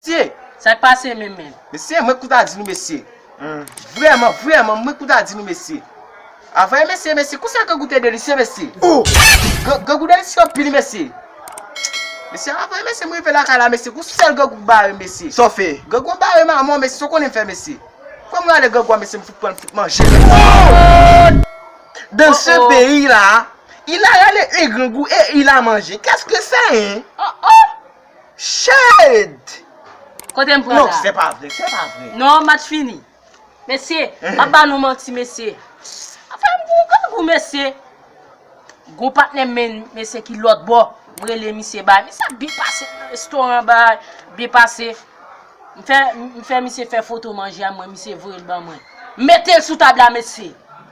Mesye! Sak pase meme? Mesye mwen kou ta di nou mesye. Vreman, vreman mwen kou ta di nou mesye. Avwe mesye, mesye kou sa grangou te delisye mesye. Ohh! Grangou delisye anpil mesye. Mesye avwe mesye mwen rive lakay la mesye kou sel grangou k bare m mesye. Sa w fe? Grangou an bare m a mò mesye sa w konnen m fe mesye. Fwa m rale grangou a mesye m fout pran m fout manje l. Ohh! Dans ce pays là, il a rale un grangou et il a mangé. Qu'est ce que c'est hein? Ohh ohh! Shade! Kotem pran la. Non se pa vre, se pa vre. Non match fini. Mesye, map ba nou manti mesye. Afem gou kangou mesye. Gou patnèm men mesye ki lòt bò. Mrele misye bay. Misye ap byen pase nan restoran bay. Byen pase. Mfè misye fè foto manje a mwen misye voye l ban mwen. Metel sou tab la mesye.